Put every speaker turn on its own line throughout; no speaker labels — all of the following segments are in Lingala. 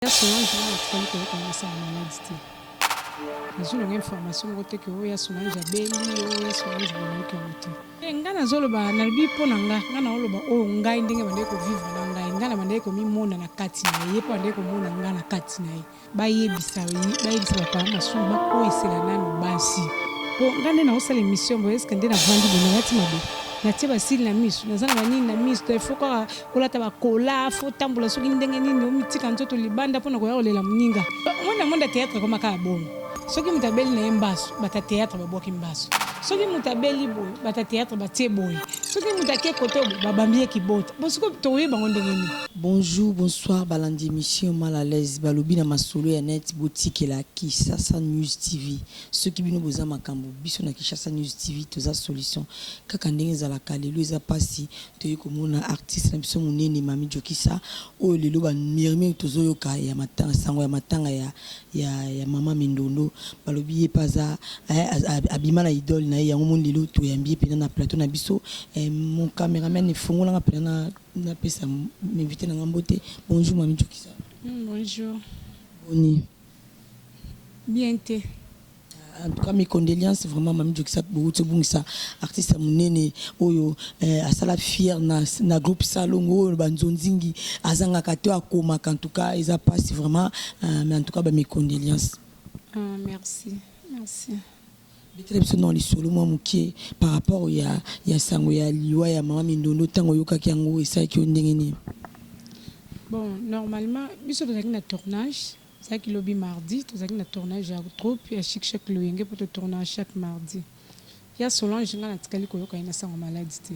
Yaso na nzela na tikali koyoka mwasi ya maladi te nazwi nanga information moko te ke oyo yaso na nzela abeli oyo yaso na nzela nayoki yango te eh, ngai nazoloba nalobi mpo na ngai ngai naoloba oyo ngai ndenge bandeki kovivre na ngai ngai na bandeki komimona na kati na ye mpo bandeki komona ngai na kati na ye bayebisa bayebisa bapaa masumu bakoyisela nano basi mpo ngai nde naosala emission boyeske nde navandi boye nalati mabe natie basili na miso naza na banini na miso to ifo kaka kolata bakola fo tambola soki ndenge nini omitika nzoto libanda mpo na koya kolela moninga omoni na monde ya théâtre ekoma kaka bongo soki moto abeli na ye mbasu bata théâtre babwaki mbasu soki moto abeli boye bata théâtre batie boye soki moto ake kote oyo babambi ye kibota bo soki tokoyeba yango ndenge nini Bonjour, bonsoir
balandi emission mal à l'aise balobi na masolo ya net botikela kisasa news TV soki bino boza makambo biso na kisasa news TV toza solution kaka ndenge ezalaka lelo eza pasi Toye komona artiste na biso munene Mamy Jokisa oyo lelo ba murmures tozo yoka ya matanga sango ya matanga ya ya ya maman Mindondo balobi ye pe aza eh, abima na idole na ye yango moni lelo toyambi ye pena na plateau na biso eh, mon cameraman efongola nga pena na na pesa invité na nga mbote bonjour Mamy Jokisa. Mm, bonjour.
Boni. bien te. En tout
cas mes condoleances vraiment Mamy Joxat bowuti obungisa artiste ya munene oyo eh, asala fier na, na groupe Salongo oyo ba nzonzingi azangaka to akomaka en tout cas eza pasi vraiment uh, mais en tout cas ba mes condoleances. Ah, merci.
Merci. Betela
biso nao lisolo mwa moke par rapport ya ya sango ya liwa ya mama Mindondo tango oyokaki yango esalaki yo ndenge nini?
Bon normalement biso tozalaki na tournage ezalaki lobi mardi tozalaki na tournage ya troupe ya chic chec loyenge po to tournaka chaque mardi ya Solange nga natikali koyoka ye na sango maladi te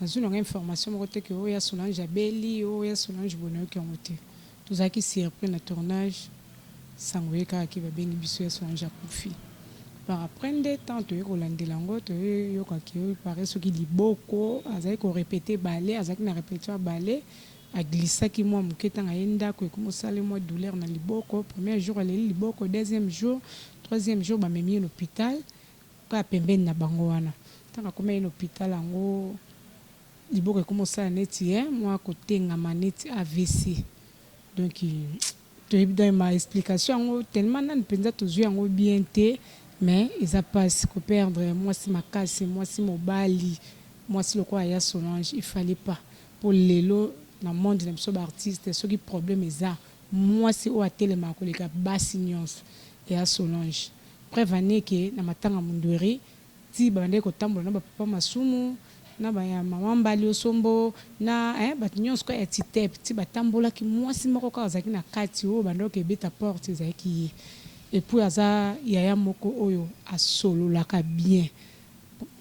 nazui nanga information moko te ke oh ya Solange abeli oh ya Solange boye nayoki yango te Tozalaki surpris na tournage sango ye kaka ke babengi biso ya Solange akufi par après nde tango toye kolandela yango toye yoka ke il parait soki liboko azalaki ko repeter ballet azalaki na repetition ya ballet a glissaki mua muke tango aye ndaku ekomi kosala ye mua douleur na liboko premier jour aleli liboko deuxième jour troisième jour bamemi ye na hopital kaka pembeni na bango wana tango akomaki na hopital yango Liboko ekoma osala neti he mua kotengama neti avc donc toyebi donc ma explication yango tellement nanu penza tozui yango bien te mais eza pasi ko perdre muasi makasi muasi mobali muasi lokola ya Solange il fallait pas po lelo na monde na biso ba artistes soki problème eza muasi oyo atelemaka koleka basi nionso ya Solange preuve en est que na matanga mundueri ti babandaki kotambola na ba papa masumu na ba ya maman mbali osombo na eh batu nionso kaka ya titep ti batambolaki muasi moko kaka azalaki na kati oyo banda oke ebeta porte ezalaki ye epuis aza yaya moko oyo asololaka bien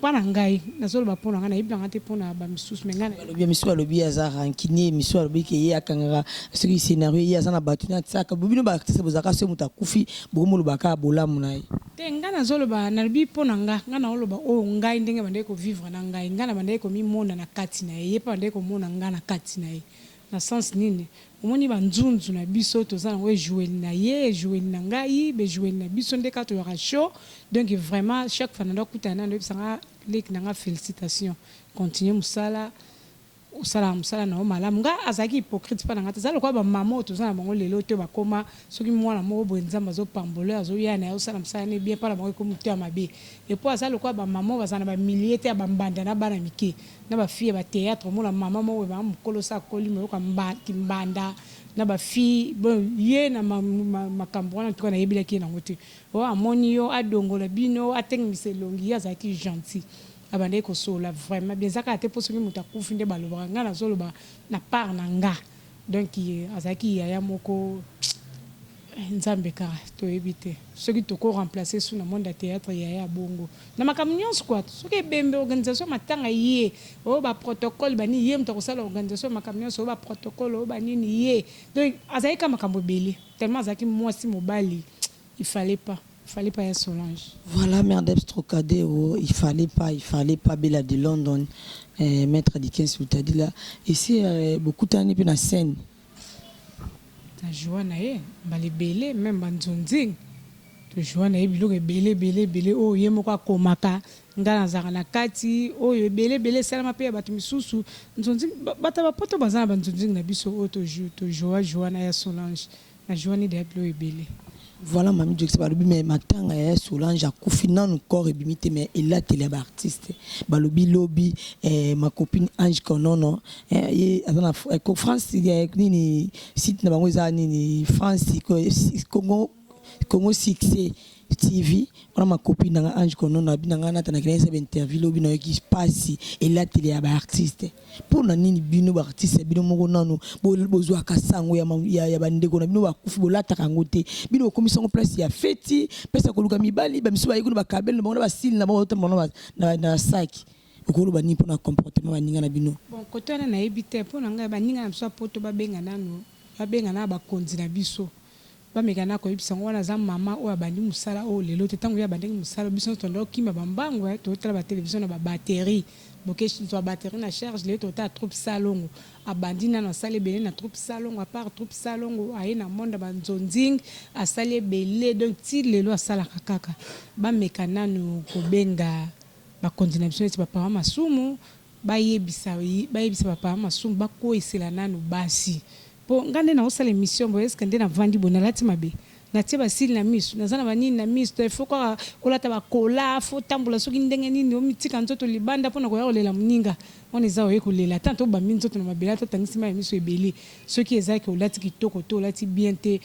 po na ngai nazoloba po na ngai nayebi nanga te po na ba misusu mais ngai Balobi ya misusu balobi aza
rancunier misusu balobi ke ye akangaka soki scenario ye aza na batu na tsaka bobino ba artiste bozalaka soki mutu akufi bokomi oloba kaka bolamu na ye. Te nga nazo loba
nalobi po na nga nga nao loba oyo ngai ndenge bandaki ko vivre na ngai nga na bandaki ko mi mona na kati na ye ye pe abandaki ko mona nga na kati na ye na sens nini omoni ba nzunzu na biso toza nango ejoueli na ye ejoueli na ngai ba ejoueli na biso nde kaka toyaka show donc vraiment chaque fois nado kutana naye nado yebisa nga leki na nga felicitations continue musala. Osalaka musala na yo malamu. Nga azalaki hypocrite epa na nga te. Eza lokola ba maman oyo toza na bango lelo te ba koma soki mwana moko boye nzambe azo pambola ye azo ya naye osala musala ne bien epa na bango ekomi mutu ya mabe. Epuis aza lokola ba maman oyo bazala na ba milieu te ya ba mbanda na bana mike na ba fille ya ba theatre omona maman moko boye maman mukolo osi akoli mais oyoka mba ki mbanda na ba fille bon ye na makambu wana en tout cas nayebelaki ye nango te oh amoni yo adongola bino atengenisa elongi ye azalaki gentil Abandaki kosolola vraiment bien eza kaka te po soki mutu akufi nde balobaka nga nazoloba na part na nga donc azalaki yaya moko eh nzambe kaka toyebi te soki toko remplacer su na monde ya theatre yaya ya bongo na makambo nionso quoi soki ebembe organisation ya matanga ye oyo ba protocole ba nini ye mutu akosala organisation ya makambo nionso oyo ba protocole oyo ba nini ye donc azalaki kaka makambo ebele tellement azalaki muasi mobali Il fallait pas il fallait pas ya solange. Voilà merdeps
trocadero il fallait pas il fallait pas bella de London eh maitre dikens lutadila esi bokutani pe na scène.
Na joua na ye mbala ebele meme ba nzonzing to joua na ye biloko ebele ebele ebele oyo ye moko akomaka nga nazalaka na kati oyo ebele ebele esalama pe ya batu misusu nzonzing batu ya ba poto baza na ba nzonzing na biso oyo to joua joua na ya solange Na jouani dejà biloko ebele. Voilà Mamy
Joxy balobi mais matanga ya ya Solange akufi nanu corps ebimi te mais elateli ya ba artistes balobi lobi eh, ma copine Ange Konono eh, ye aza na eh, ko France eh, nini site na bango eza nini France ko, Congo Congo succès TV wana ma copine nanga Ange Kono na bina nga nata na kina esa interview lobi na yoki pasi elateli ya ba artistes mpo na nini bino ba artistes bino moko nanu bozwa kasango ya, ya, ya bandeko na bino bakufi bolataka yango te bino bokomisa yango place ya feti place ya koluka mibali bamisu baye kuna bakabele na bango na basili na bango otamba na, na, na saki okoloba nini mpo na comportement baninga na bino bon kote wana nayebi
te mpo na ngai baninga na biso ya poto babenga nanu babenga na bakonzi na biso Ba meka n'a koyebisa yango wana aza maman oyo abandi musala oyo lelo te tangu ye abandaki musala biso nionso tobanda kokima ba mbangu eh tozo tala ba television na ba batterie bokeshu zua batterie na charge lelo toko tala troupe salongo abandi nanu asali ebele na troupe salongo à part troupe salongo aye na monde ya ba nzonzing asali ebele donc ti lelo asalaka kaka ba meka nanu kobenga ba konzi na biso neti ba papa masumu Bayebisa bayebisa ba papa masumu bakueyisela nanu basi po nga nde naosala emission boye eske nde navandi boye nalati mabe natie ba cils na misu naza na ba nini na misu to il faut kaka kolata ba kola faut tambola soki ndenge nini omitika nzoto libanda pona koya kolela muninga wana eza oye kolela ata to bambi nzoto na mabele ata otangisi mayi ya misu ebele soki eza ke olati kitoko te olati bien te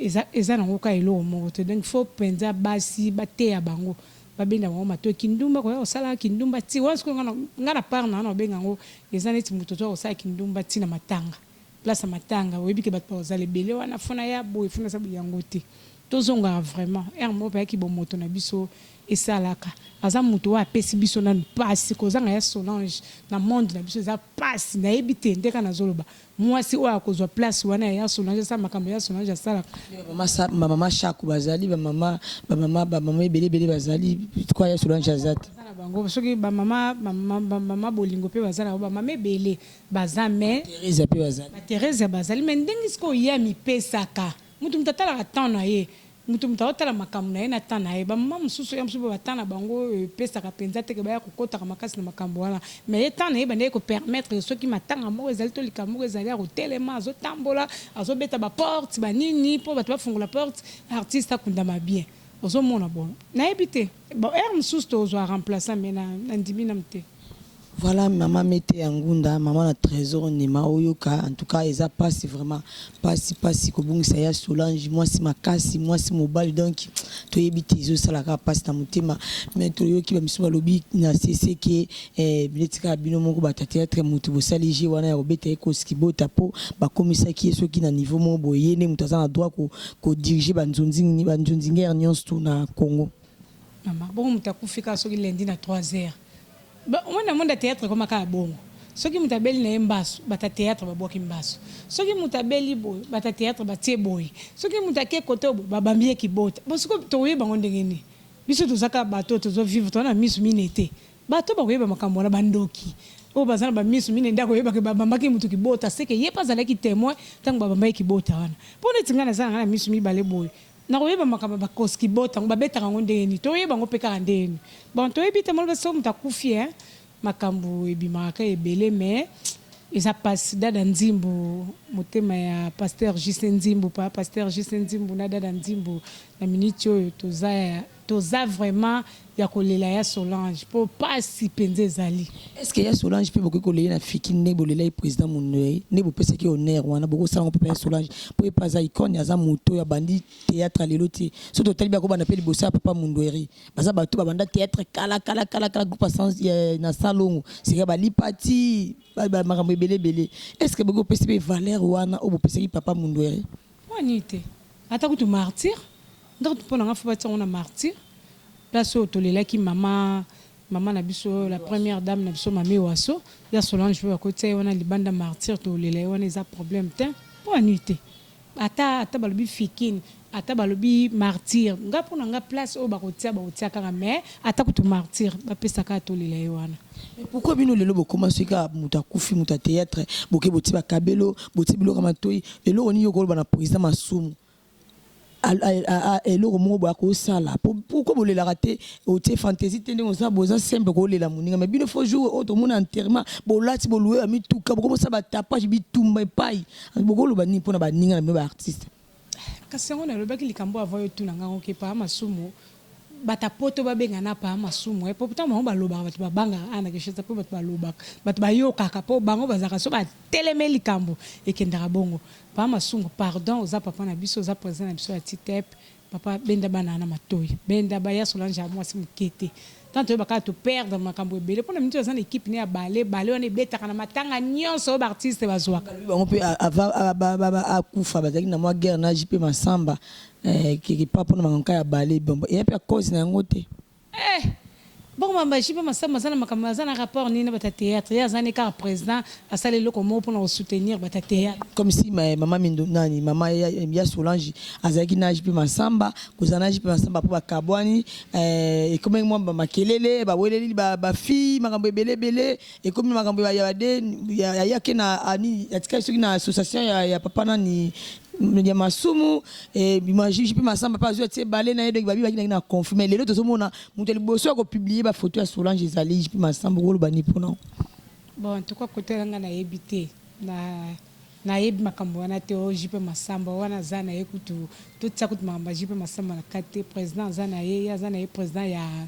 eza eza nango kaka eloko moko te donc faut penza basi bateya bango ba benda bango matoyi kindumba koya kosala kindumba ti wana sikoyo nga na part nanga nako benga yango eza neti mutu oza kosala kindumba ti na matanga place ya matanga oyebi ke batu bakozala ebele wana faut naya boye faut nasala boye yango te tozongaka vraiment heure moko payaki bomoto na biso esalaka aza mutu oyo apesi biso nanu pasi kozanga ya solange na monde na biso eza pasi nayebi te nde kaka nazoloba Muasi oyo akozua place wana ya ya solange asala makambo ya solange asalaka. Ba mama
shaku bazali ba mama ba mama ba mama ebele ebele bazali pourquoi ya solange aza te. Baza na bango soki ba
mama ba mama bolingo pe baza na bango ba mama ebele baza mais. Ba theresia pe bazali. Ba theresia bazali mais ndenge sikoyo ye amipesaka mutu mutu atalaka temps na ye Moto moto azotala makambo na ye na temps na ye. Ba maman mosusu ya mosusu ba temps na bango epesaka penza te que baya kokotaka makasi na makambo wana. Mais ye temps na ye ebandaki ko permettre que soki matanga moko ezali to likambo moko ezali akotelema, azotambola, azobeta ba portes, ba nini po bato bafungola porte, artiste akundama bien. Ozomona? Bon, nayebi te. Bon heure mususu tokozua remplaçant mais na nandimi nanu te. Voilà maman
mete ya ngunda maman na tresor nema oyoka en tout cas eza pasi vraiment pasi pasi kobungisa ya solange mwasi makasi mwasi mobali donc toyebi te ezosala kaka pasi na motema mais toyoki bamisu balobi na sese ke Eh bino tika bino moko ba theatre mutu bosali jeu wana ya kobeta ye kosi kibota po bakomisaki ye soki na niveau moko boye ye nde mutu aza na droit ko ko diriger ba nzonzing ba nzonzingere nyonso tout na Congo Mama bongo
moto akufi kaka soki lundi na 3 heures Ba- omoni na monde ya theatre ekoma kaka bongo soki moto abeli na ye mbasu bata theatre babwaki mbasu soki moto abeli boye bata theatre batie boye soki moto ake kote oyo boye babambi ye kibota bosiko tokoyeba yango ndenge nini biso toza kaka bato oyo tozo vivre toza na miso mine te Bato oyo bakoyeba makambo wana, bandoki oyo baza na bamiso minei nde akoyeba ke babambaki moto kibota, se ke ye pe azalaki temoin tango babambaki kibota wana. Po neti ngai naza na ngai na miso mibale boye, nakoyeba makambo ya bakos kibota yango babetaka yango ndenge nini? Toyeba yango pe kaka ndenge nini? Bon toyebi te moloba soki moto akufi hein makambo ebimaka kaka ebele mais eza pasi dada nzimbu motema ya pasteur JC nzimbu papa pasteur JC nzimbu na dada nzimbu na minute oyo toza ya Toza vraiment ya kolela ya solange po pasi penza ezali. Est ce que ya solange
pe bokoki kolele na fikin ndenge bolelaki president munue nde bopesaki honneur wana bokosala ngo pe pona ya solange po ye pe aza icone aza mutu oyo abandi theatre ya lelo te soki totali bako banda pe liboso ya papa mundueri baza batu babanda theatre kala kala kala kala groupe ya sans ya na salongo sika ba lipa ti ba makambo ebele ebele est ce que bokoki kopesa pe valeur wana oyo bopesaki papa mundueri Pona nini te?
Ata kutu martyr, nga kutu pona nga faut batia ngo na martyr, place oyo tolelaki mama, mama na biso la première dame na biso Mamie Waso, ya Solange pe bakoki tia ye wana libanda martyr tolela ye wana eza problème tein, pona nini te? Ata ata balobi fikin, ata balobi martyr, nga pona nga place oyo bakotia bakotia kaka mais ata kutu martyr bapesa kaka tolela ye wana. Mais pourquoi bino lelo
bokoma soki kaka moto akufi moto ya théâtre boke botie bakabelo botie biloko ya matoi eloko nini okoloba na président masumu Al- al- a- a- eloko moko boya kosala Po- pourquoi bolelaka te otie fantaisie te ndenge oza boza simple kolela moninga mais bino fo jour oyo tomona enterrement bolati bolue ya mituka bokomosala batapage bitumba epai bokoloba nini mpo na baninga na bino baartiste Kasi yango
nalobaki likambo avant yo tuna nga ngo ke papa masumu bata poto babenga na papa masumu eh, pourtant bango balobaka bato babangaka ana keshesa mpo bato balobaka bato bayokaka mpo bango bazalaka so bateleme likambo ekendaka bongo papa masumu pardon oza papa na biso oza president na biso ya titep papa benda bana na matoyi benda baya solange ya mwasi moke te Tango toyeba kaka to perdre makambo ebele pona minute aza na equipe ne ya balle balle wana ebetaka na matanga nionso oyo ba artiste bazuaka. Balobi bango pe avant
akufa bazalaki na mwa guerre na JP Massamba quelque part pona makambo ka ya balle bon eya pe ya cause na yango te? Eeh!
Bongo makambo ya JP Massamba aza na makambo aza na rapport nini na batu ya theatre? Ye aza nde kaka president Asala eloko moko pona ko soutenir batu ya theatre. Comme si mais maman
mindo nani maman ya, ya Solange azalaki na JP Mansamba kozala na JP Mansamba après bakabwani eh, ekomaki mwa ba makelele baweleli ba, ba fille makambo ebele ebele ekomi makambo ya ya de ya, ya, ya ke na ani atikaki soki na association ya, ya papa nani ya masumu eh, bima JP Mansamba pa azwi atie bale na ye donc babi bakendaki na conflit mais lelo tozomona moto ya liboso ya kopublie bafoto ya Solange ezali JP Mansamba okoloba nini mpo na yango? Bon en tout
cas kote wana nga nayebi te na nayebi makambo wana te o JP Masamba wana aza na ye kutu totia kutu makambo ya JP Masamba na kati te president aza na ye ye aza na ye president ya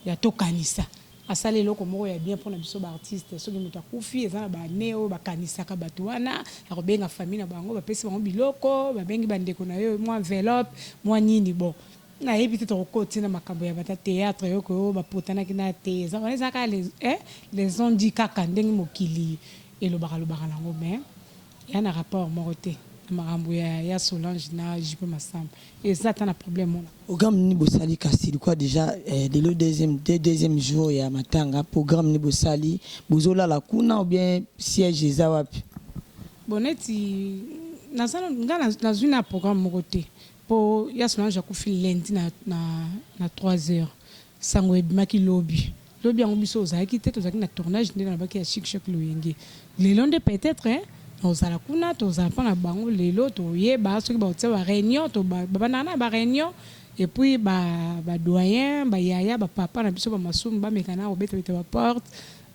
ya tokanisa asala eloko moko ya bien mpona biso baartiste soki moto akufi eza na bane oyo bakanisaka bato wana ya kobenga famille na bango bapesi bango biloko babengi bandeko na yo mwa enveloppe mwa nini bon Nayebi te tokokoti na makambo ya bata theatre yo koyo ba potanaki na te eza wana eza kaka les eh les ont dit kaka ndenge mokili elobaka lobaka nango mais eya na rapport moko te na makambo ya ya Solange na JP Massamba eza ata na problème mona. Programme nini bosali
kasi likoya dejà eh, lelo deuxième de deuxième jour ya matanga programme nini bosali bozolala kuna ou bien siège eza wapi? Bon neti
naza nga nazwi na programme moko te Po ya Solange akufi lundi na na trois heures sango ebimaki lobi lobi yango biso ozalaki te tozalaki na tournage nde nalobaki ya chic choc loyenge lelo nde peut etre nakozala kuna tokozala mpo na bango lelo toyeba soki bakotia ba reunion to babandaka na ba reunion et puis ba ba doyen ba yaya ba papa na biso ba masumu bameka na kobeta beta ba porte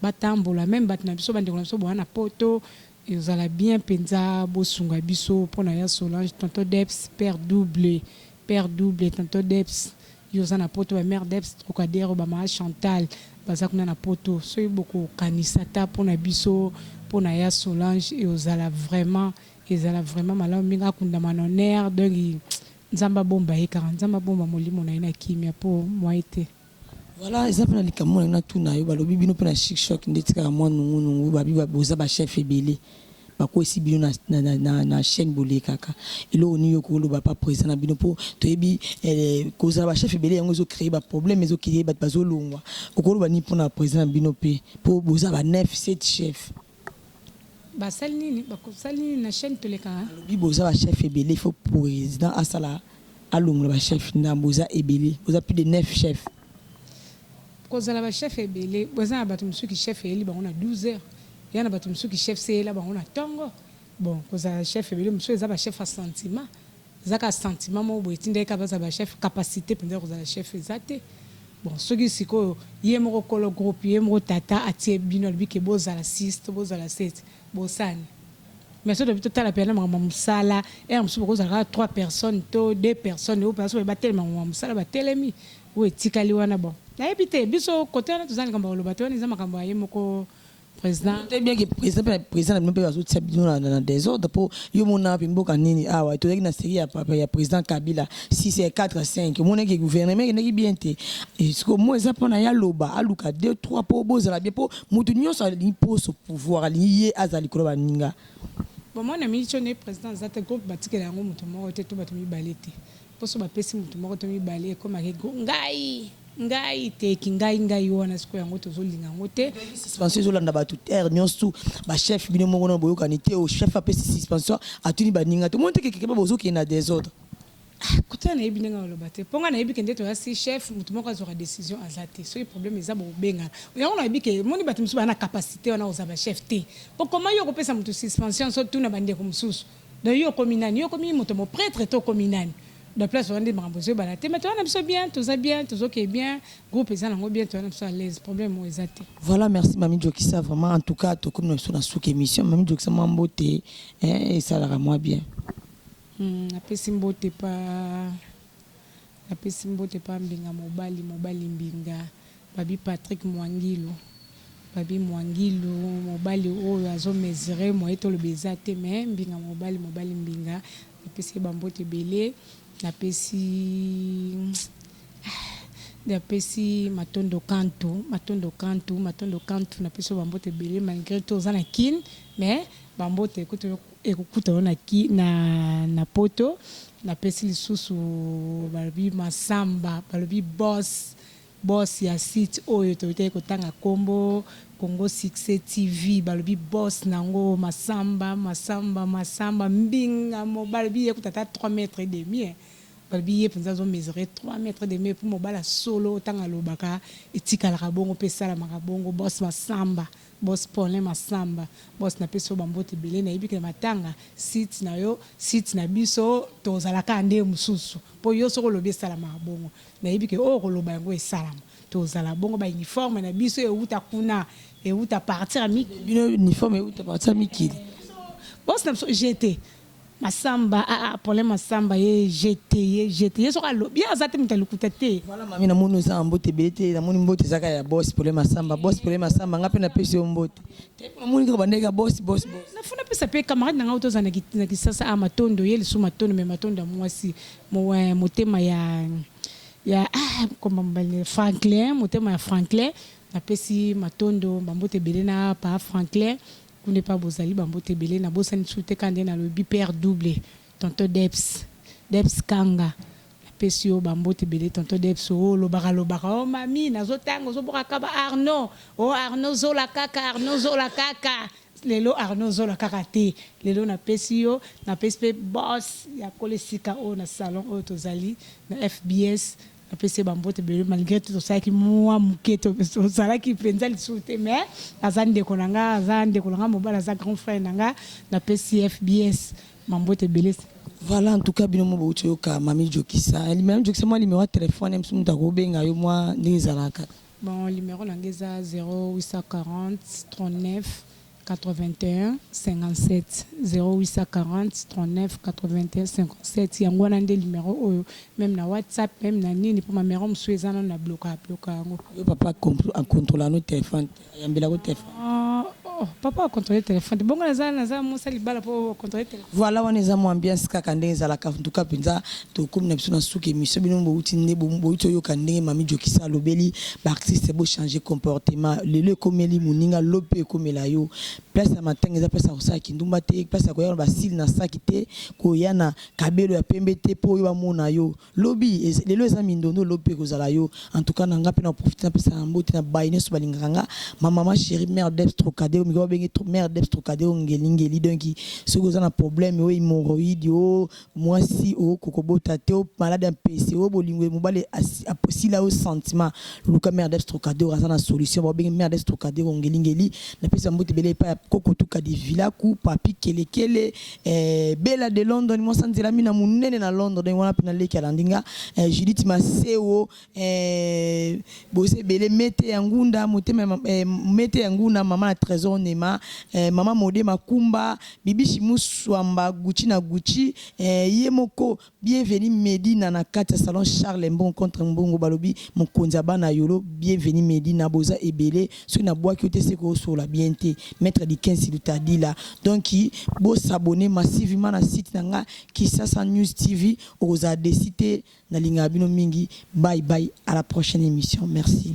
batambola meme bato na biso bandeko na biso bowana poto Ekozala bien penza bosunga biso pona ya Solange tonton Debs père double père double tonton Debs yo oza na poto ba mère Debs trocadero ba mama Chantal baza kuna na poto soki boko kanisa ata pona biso pona ya Solange ekozala vraiment ezala vraiment malamu mingi akundama na honneur donc nzambe abomba ye kaka nzambe abomba molimo na ye na kimia po moyen te. Voilà, eza
pe na likambo na natu na yo balobi bino pe na chic choc nde tika mwa nungu nungu babi boza ba chef ebele bakwesi bino na, na, na, na, na chaîne bolekaka eloko nini yoko oloba pa président na bino po toyebi eh, kozala ba chef ebele yango ezo créer ba problème ezo créer bato bazolongwa okoloba nini pona président na bino pe po boza ba 9 7 chef
Basali nini bakosali nini na chaine tolekaka. Alobi boza ba chef
ebele il faut president asala alongola ba chef ndambu boza ebele boza plus de 9 chef.
Kozala ba chef ebele boza na batu mususu ki chef eyeli bango na 12 heures ya na batu mususu ki chef se eyela bango na tongo bon kozala chef ebele mususu eza ba chef ya sentiment Eza kaka sentiment moko boye etindaki kaka bazala ba chef, capacite penza ya kozala chef eza te. Bon soki sikoyo ye moko kolo groupe, ye moko tata atie bino alobi ke bozala six to bozala sept bosani. Mais soki tolobi totala penza na makambo ya musala heure mosusu bokozala kaka trois personnes to deux personnes oyo penza soki balobi batelema makambo ya musala batelemi oyo etikali wana bon nayebi te biso cote wana toza na likambo ya koloba te wana eza makambo ya ye moko Président, c'est bien que président pe
président na bino pe bazotia bino na, na, na désordre po yo mona wapi mboka nini awa tozalaki na série ya papa ya président kabila 6 ya 4 5 omonaki gouvernement ekendaki bien te Et siko mo eza mpona ye aloba aluka 2 3 po bozala bien po moto nyonso alingi poso pouvoir alingi ye azala likolo ya baninga bomona
mico ne président aza te groupe batikela yango moto moko te to bato mibale te Poso bapesi moto moko to mibale ekomaki go ngai ngai te ki ngai ngai wana siko yango tozolinga yango te suspension ezolanda bato
terre nyonso tu bachef bino moko na boyokani te o chef apesi suspension atuni baninga te omoni te kekekeba bozokende na desordre ah, kuta
nayebi ndenge aloba te mpo ngai nayebi kende toya si chef moto moko azwaka décision aza te soki problème eza bokobengana yango nayebi ke omoni bato mosusu baa na capacité wana kozala bachef te okoma yo okopesa moto suspension so tuna bandeko mosusu Donc yo okomi nani? Yo okomi moto mo pretre to okomi nani? Donc place wana nde makambo ezo ebana te mais toza na biso bien toza bien tozo keye bien groupe eza nango bien toza na biso alaise problème oyo eza te. Voilà merci mami
jokisa vraiment en tout cas tokomi na biso na suka emission mami jokisa mwa mbote hein esalaka mwa bien. Hum
napesi mbote pa napesi mbote pa mbinga mobali mobali mbinga. Babi Patrick Muangilu babi Muangilu mobali oyo azo mesure moyen toloba eza te mais mbinga mobali mobali mbinga napesi ye ba mbote ebele napesi napesi matondo kantu matondo kantu matondo kantu napesi yo ba mbote ebele malgre to oza na kin mais ba mbote ekutu ekokuta yo na ki na na poto napesi lisusu balobi masamba balobi boss Boss ya site oyo toyekaki kotanga kombo Congo succès TV balobi boss nango Massamba Massamba Massamba mbinga mobali balobi ye kutu ata trois mètres et demi eh balobi ye penza azo mesurer trois mètres et demi epuis mobali ya solo tango alobaka etikalaka bongo pe esalamaka bongo boss Massamba boss Paulin Massamba boss napesi yo ba mbote ebele nayebi ke matanga site nayo site nabiso tozalaka nde mususu po yo soki olobi esalamaka bongo Nayebi que oyo okoloba yango esalama. Tozala bongo ba uniforme na biso ewuta kuna ewuta partir ya mikili. Bino uniforme ewuta
partir ya mikili. Boss
na biso GT massamba ah ah Paulin massamba ye GT ye GT ye soki alobi ye aza te mutu ya lokuta te. Voilà mami na moni oza na
mbote ebele te na moni mbote eza kaka ya boss Paulin massamba boss Paulin massamba nga pe na pesi yo mbote te po na moni kaka obandaki kaka boss boss boss. Na faut na pesa
pe camarade na nga oyo tozala na kisasa awa matondo ye lisusu matondo mais matondo ya muasi Moyen motema ya ya ah komba mobali na ye Franklin motema ya Franklin napesi matondo ba mbote ebele na pa Franklin kuna epa bozali ba mbote ebele nabosani lisusu te kaka nde nalobi père double tonton Debs Debs Kanga napesi yo ba mbote ebele tonton Debs o lobaka lobaka o mami nazotanga ozobwaka kaka ba Arnaud o Arnaud zola kaka Arnaud zola kaka Lelo Arnaud zola kaka te lelo na pesi yo na pesi pe boss ya kole sika oyo na salon oyo tozali na FBS na pesi ye ba mbote ebele malgre tout tosalaki mua muke tozalaki penza lisusu te mais aza ndeko na nga aza ndeko na nga mobali aza grand frère na nga na pesi FBS ba mbote ebele. Voilà en tout cas
bino mo bowuti oyoka Mamy Jokisa, Mamy Jokisa mua numero ya telephone ya biso mutu akobenga yo mua ndenge ezalaka. Bon numero na
nga eza 0840398157 0840398157 yango wana nde numero oyo meme na whatsapp meme na nini po ma numero mosusu eza nanu na bloka bloka yango. Yo papa
a controla no telephone te ayambela ko telephone. Oh, papa
a contrôler téléphone. Bongo naza naza musa libala po contrôler téléphone. Voilà wana eza mo ambiance
kaka ndenge ezalaka en tout cas penza to komi na biso na suki émission bino bo uti nde bo bo uti yoka ndenge mami jokisa alobeli ba artistes bo changer comportement lelo ekomeli muninga lope ekomela yo place ya matanga eza place ya kosala kindumba te place ya koya na basili na saki te koya na kabelo ya pembe te po yo bamona yo Lobi eza lelo eza mindondo lobi pe ekozala yo en tout cas na nga pe na profite na pesa na mbote na baye nionso balingaka nga ma maman cherie mère Debs Trocadero mikolo ba bengi trop mère Debs Trocadero ngeli ngeli donc soki oza na problème o hemorroïde o muasi o koko bota te o malade ya mpese o bolingo ya mobali asi a sila yo sentiment luka mère Debs Trocadero aza na solution ba bengi mère Debs Trocadero ngeli ngeli na pesa mbote ebele epai ya koko tuka de vilaku papy kelekele Eh, Bella de London mwasa nzela mina munene na London ndenge wana pena leki alandi nga eh, Judith Masewo eh, bose bele mete ya ngunda motema eh, mete ya nguna mama na Trésor Nema eh, mama Mode Makumba Bibishi Muswamba Gucci na Gucci eh, ye moko Bienvenue Medina na kati ya salon Charles Mbongo contre Mbongo balobi mokonzi ya bana yolo bienvenue Medina boza ebele soki na bwaki yo te seke osolola bien te maitre Dickens Lutadila donc bo s'abonner massivement na site na nga Kisasa News TV okozala deci te na lingaka bino mingi bye bye à la prochaine emission merci.